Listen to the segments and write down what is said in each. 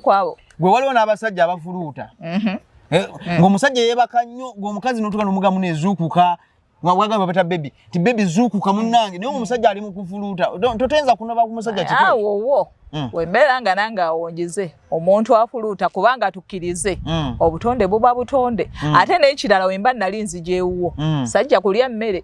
kwabo gwe waliwo n'abasajja abafuluuta mhm. eh, mm. ng'omusajja yeebaka nnyo ng'omukazi notuka nomugamu nezuukuka wagamba bata bebi ti bebi zuukuka munnange naye omusajja ali mukufuluuta totenza kunoba ku musajja kiowowo mm. wembeera nga nange awonjeze omuntu afuluuta kubanga tukkirize mm. obutonde buba butonde ate n'ekirala wemba nali nzija ewuwo sajja kulya mmere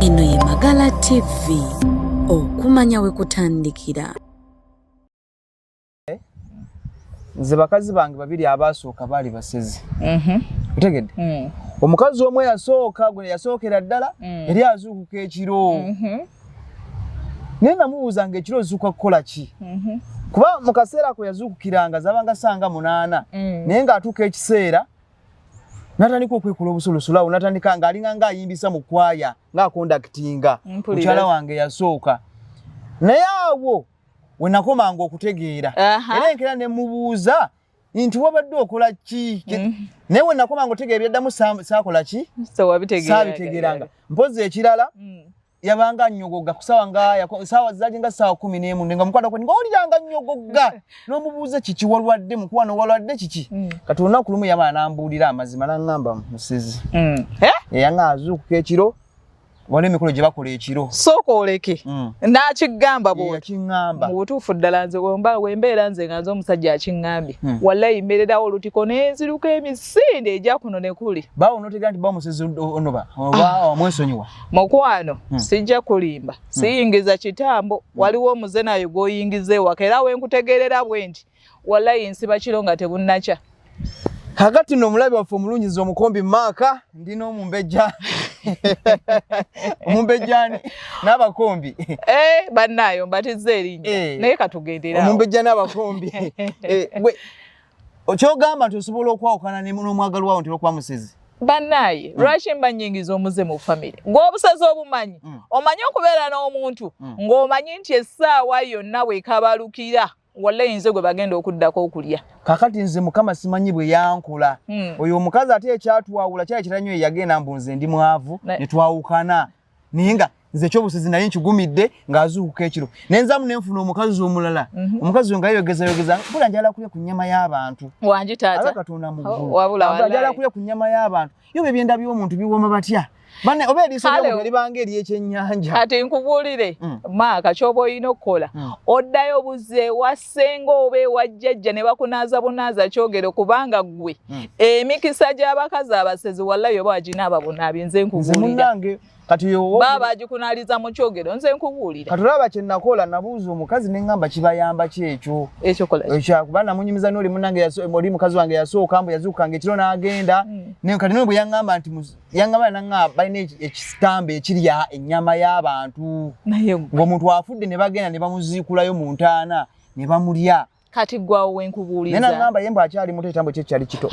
Eno ye Magala TV, okumanya we kutandikira. Nze bakazi bange babiri abaasooka baali basezi. Mhm. Otegedde? Mm. Omukazi omu eyasooka gwe yasookera ddala mm. yali azuukuka ekiro. Mhm. naye namubuuza nga ekiro ozuuka kukola ki mhm. kuba mu kaseera kwe yazuukukiranga zabanga sanga munaana mm. naye ng'atuuka ekiseera natandika okwekula obusulusulawo natandika ng'alinga ng'ayimbisa mu kwaya ng'akondakitinga mukyala wange yasooka naye awo we nakomanga okutegeera era enkera ne mubuuza nti wabadde okola ki mm. naye we nakoma nga otegeera byaddamu saakola ki saabitegeranga mpozi ekirala mm. yabanga nyogoga kusawa nga sawa zaje nga sawa kumi nemu nga mukwano kwe nga oliranga nyogoga nomubuuza kiki walwadde mukwano walwadde kiki mm. kati olunaku lumu yaba anambuulira amazima nangamba musizi mm. eh? yanga azuukuka ekiro waliwo emikolo gye bakola ekiro sooka oleke mm. n'akigamba bwakigamba mu butuufu ddala nze wembeera nze nga nze omusajja akingambye mm. wallayi mbeererawo olutiko nenziruka emisinde egya kuno ne kuli bawo notegera nti bamusezi onoba ah. omwesonyiwa mukwano mm. sijja kulimba mm. siyingiza kitambo mm. waliwo omuze nayo gwoyingiza ewaka era wenkutegeerera bwe nti walayi nsiba kiro nga tebunnakya kakati no omulabi waffe omulungi nze omukombi maaka ndi n'omumbejja omumbejjani n'abakombi eh, bannaayo mbatizza erinnya eh. naye katugendera omumbejja n'abakombi eh, kyogamba nti osobola okwawukana n'omwagalwa wo ntera okuba musezi bannaaye mm. lwaki mba nyingiza omuze mu famire ng'obusazi obumanyi mm. omanyi okubeera n'omuntu mm. ng'omanyi nti essaawa yonna wekabalukira walayi nze gwe bagenda okuddako okulya kakati nze mukama simanyi bwe yankula hmm. oyo omukazi ate ekyatwawula kyali kiranyo eyagenda mbu nze ndi mwavu ne twawukana naye nga nze ekyobusizi naye nkigumidde ng'azuukuka ekiro naye nzamu ne nfuna omukazi omulala mhm. omukazi oyo nga yeyogezayogeza bula njala kulya ku nnyama y'abantu wangi taata katonda muggulu wabula njala kulya ku nnyama y'abantu Yo bye byenda byo omuntu biwoma batya? Bane obe eri sebe omuntu eri bange eri ekyenyanja. Kati nkubulire mm. maaka kyobo ino kola. Mm. Oddayo buze wasenga obe wajjajja ne bakunaza bunaza kyogero kubanga gwe. Mm. Emikisa gy'abakazi abasezi wallahi oba ajina ababuna binze nkubulire. Nze munange kati baba bagikunaliza mu kyogero nze nkubuulira kati olaba kye nakola nabuuza omukazi ne ŋŋamba kibayamba ki ekyo ekyokuba namunyumiza noli munange oli mukazi wange yasooka mbu yazuukukanga ekiro n'agenda hmm. kati noli bwe yaŋŋamba nti yaŋŋamba naŋa balina ekitambo ekirya ennyama y'abantu ng'omuntu afudde ne bagenda ne bamuziikulayo mu ntaana ne bamulya kati gwawo wenkubuuliza nena ngamba yembo akyali muto ekitambo kye kyali kito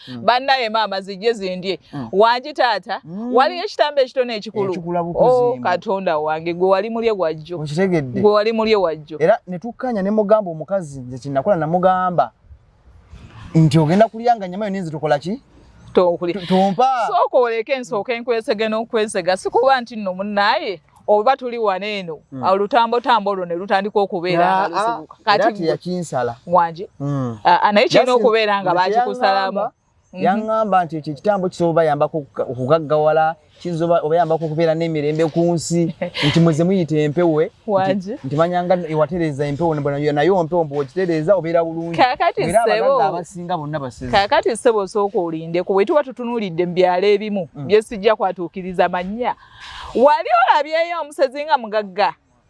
mm. bannaye maama zijje zindye mm. wangi taata mm. waliyo ekitambo ekitone ekikulu oh, katonda wange gwe wali mulye wajjo gwe wali mulye wajjo era netukkanya ne mugamba omukazi nze kinakola namugamba nti ogenda kulya nga nyama yoninzi tukola ki tompa sooka oleke ensooka enkwesege n'okwesega sikuba nti nno munnaye oba tuli wano eno mm. olutambo tambo olwo ne lutandika okubeera nga lusibuka kati yakinsala wangi hmm. naye kirina okubeera nga bakikusalamu Mhm. yaŋŋamba nti ekyo ekitambo kisobola obayambako okugaggawala kiyinza obayambako okubeera n'emirembe ku nsi nti muze muyita empewe nti manyanga ewatereeza empewo nayo mpewo mbu okitereeza obeera bulungiabasinga bonna basekaakati ssebo osooka olindeko bwe tuba tutunuulidde mu byalo ebimu mm. byesijja kwatuukiriza mannya wali olabyeyo omusezi nga mugagga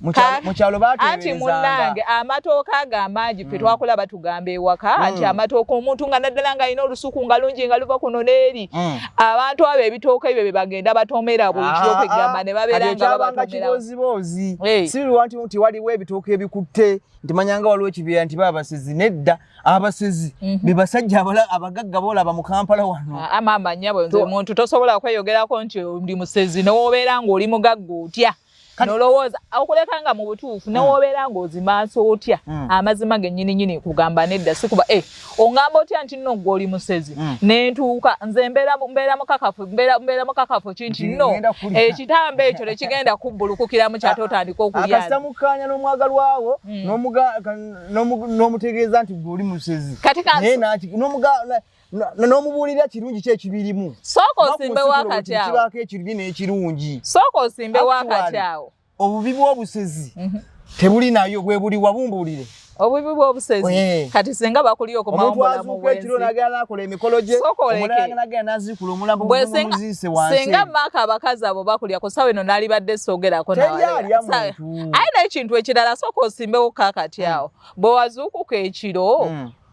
mukyalo baanti munange amatooka ago amangi fe mm. twakula batugamba ewaka mm. nti amatooka omuntu nga naddala nga alina olusuku nga lungi nga luva kuno neeri mm. abantu abo ebitooka ebyo byebagenda batomera bulikiokegamba ah, ah. ne baberangabatomeraoziboozi eh. sibiwanti nti waliwo ebitooka ebikutte nti manyanga waliwo ekibiira nti babasezi nedda abasezi mhm. bebasajja abagagga boolaba mu kampala wano ah, amaama nyabo nze omuntu tosobola kweyogerako nti ndi musezi newobeera ngaoli mugagga otya nolowooza okuleka nga mu butuufu newobeera hmm. ng'ozimansa otya hmm. amazima gennyini nyini kugamba nedda sikuba e eh, ongamba otya nti nno gwe oli musezi hmm. nentuuka nze mbeera mukakafu mbeera mukakafu kinti nno ekitambo ekyo tekigenda kubbulukukira mu kyate otandika okulyakasita mukkaanya n'omwagalwawo n'omutegeeza nti gwe oli musezi kati n'omubuulira kirungi ki ekibirimu sooka osimbe wakati awo kibaako ekirungi n'ekirungi sooka osimbe wakati awo obubi bw'obusezi mhm. tebuli nayo bwe buli wabumbuulire obubi bw'obusezi eh. kati singa bakuli okumawomulamuekiro nagenda nakola emikolo gye omulanagenda nazikula omulambo gumuziise wansi singa maaka abakazi abo bakulya ku sawa eno nalibadde sogerako aye n'ekintu ekirala sooka osimbewo kakati awo bwe wazuukuka ekiro hmm.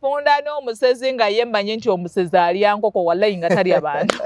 Punda no musezi nga ye manyi nti omusezi alya nkoko wallahi nga talya bantu.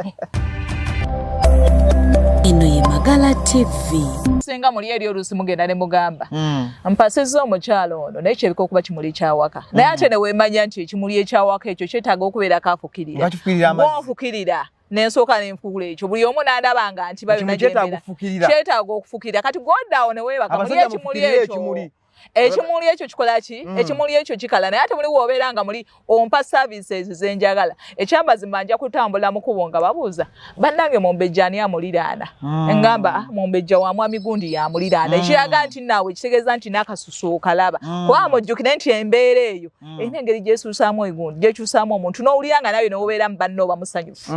Eno ye Magala TV. Singa muli eri olusi mugenda ne mugamba. Mm. Mpasiza omukyala ono naye kyebiko okuba kimuli kya waka. Mm. Naye ate ne wemanya nti ekimuli ekya waka ekyo kyetaaga okubeera kafukirira. Bakifukirira amazi. Wofukirira. nensooka nenfuula ekyo buli omu nandabanga nti bayonakyetaaga okufukirira kati godawo newebaka muli ekimuli ekyo ekimuli ekyo kikola ki mm. ekimuli ekyo kikala naye ate muli wobeera nga muli ompa services zenjagala ekyamazima nja kutambula mukubo nga babuuza bannange mumbejja ani amuliraana mm. engamba ah, mumbejja wa mwami gundi yamuliraana mm. ekiraga nti naawe ekitegeeza nti nakasusu okalaba kuba mujjukire nti embeera eyo erina engeri gyesuusaamu egundi gyekyusaamu omuntu n'owulira nga nawe newobeera mu banna oba musanyufu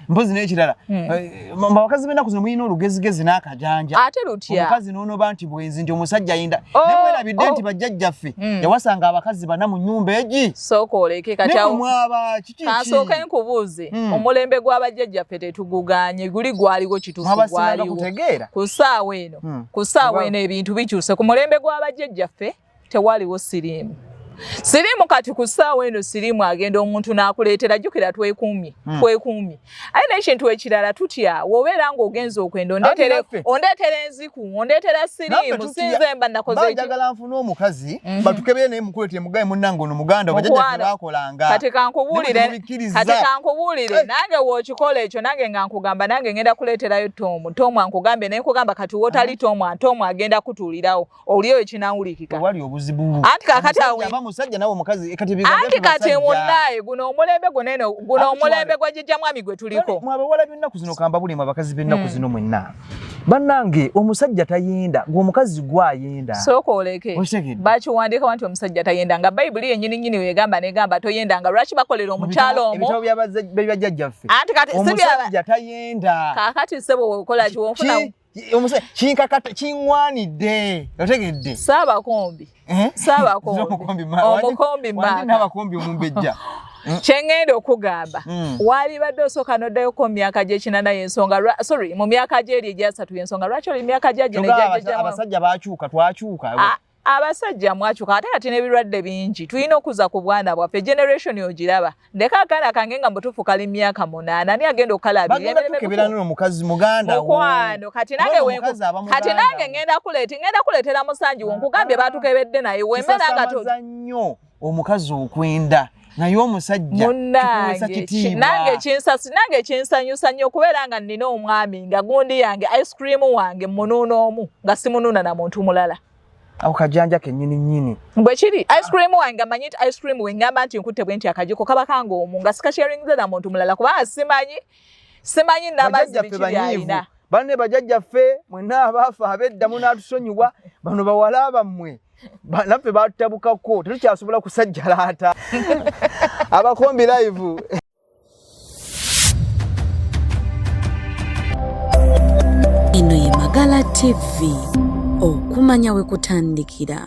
mpozi n'ekirala hmm. eh, abakazi b'ennaku zino mulina olugezigezi n'akajanja ate lutya omukazi n'onoba nti bwenzi nti omusajja ayinda oh, naye mwerabidde oh. nti bajjajjaffe hmm. yawasanga abakazi bana mu nyumba egi sooka oleke katyamwaba kikikansooka enkubuuze hmm. omulembe gw'abajjajjaffe tetuguganye guli gwaliwo kitufu gwaliwo ku ssaawa eno ku ssaawa eno ebintu bikyuse ku mulembe gw'abajjajjaffe tewaliwo siriimu siriimu kati ku ssaawa eno siriimu agenda omuntu n'akuleetera jjukira twekuumye hmm. twekuumye aye n'ekintu ekirala tutya wobeera ng'ogenza okwenda ondeetera enziku ondeetera siriimu sinze mba nakozeejagala nfuna omukazi mhm. batukebere naye mukuleetera mugaye munnange ono muganda wajajabakolanga kati kankubuulire kati kankubuulire eh. nange wookikola ekyo nange nga nkugamba nange ngenda kuleeterayo toomu toomu ankugambye naye nkugamba kati wotali toomu ate omu agenda kutuulirawo oli oyo kinawulikika wali obuzibu anti kakati awe aba musajja nawe mukazi ekati biga anti kati munaye guno omulembe guno eno guno omulembe gwa jijja mwami gwe tuliko mwabe wala binna kuzino kamba buli mabakazi binna hmm. kuzino mwenna banange omusajja tayenda gwo mukazi gwa yenda soko oleke bachi wandika wanti omusajja tayenda nga bible yenyini nyini wegamba ne gamba to yenda nga rachi bakolera omuchalo omo ebitabo bya bajja jaffe anti kati omusajja tayenda kakati sebo okola ki wonfuna omusa kinkakata kiŋwanidde otegedde saabakombi eh? saabakombi omukombi maabakombi omumbejja hmm? kyengenda okugamba hmm. walibadde osooka noddayoko mu myaka gyekinana yensonga sorry mu myaka gyeri egyasatu yensonga lwaki oli myaka gyagino abasajja bakyuka twakyuka ah, abasajja mwakyuka ate kati n'ebirwadde bingi tulina okuza ku bwana bwaffe generation ogiraba ndeka akaana kange nga mutuufu kali myaka munaana ani agenda okukalabimukwano kati nange ngenda kuleeta ngenda kuleetera musanji wo nkugambye batukebedde naye wemera nga omukazi okwenda naye omusajja nange kinsasi nange kinsanyusa nnyo okubeera nga nnina omwami nga gundi yange ice cream wange munuuna omu nga simunuuna na muntu mulala awo kajanja kenyini nyini bwe kiri ice cream wange nga manyi nti ice cream we ngamba nti nkutte bwe nti akajiko kaba kanga omu nga sikasharingize na muntu mulala kubanga simanyi simanyi namazzi biki byalina banne bajajjaffe mwenna abaafa abedda munatusonyiwa bano bawala bammwe naffe batutabukako tetukyasobola kusajjalaata abakombi live eno ye magala tv okumanya we kutandikira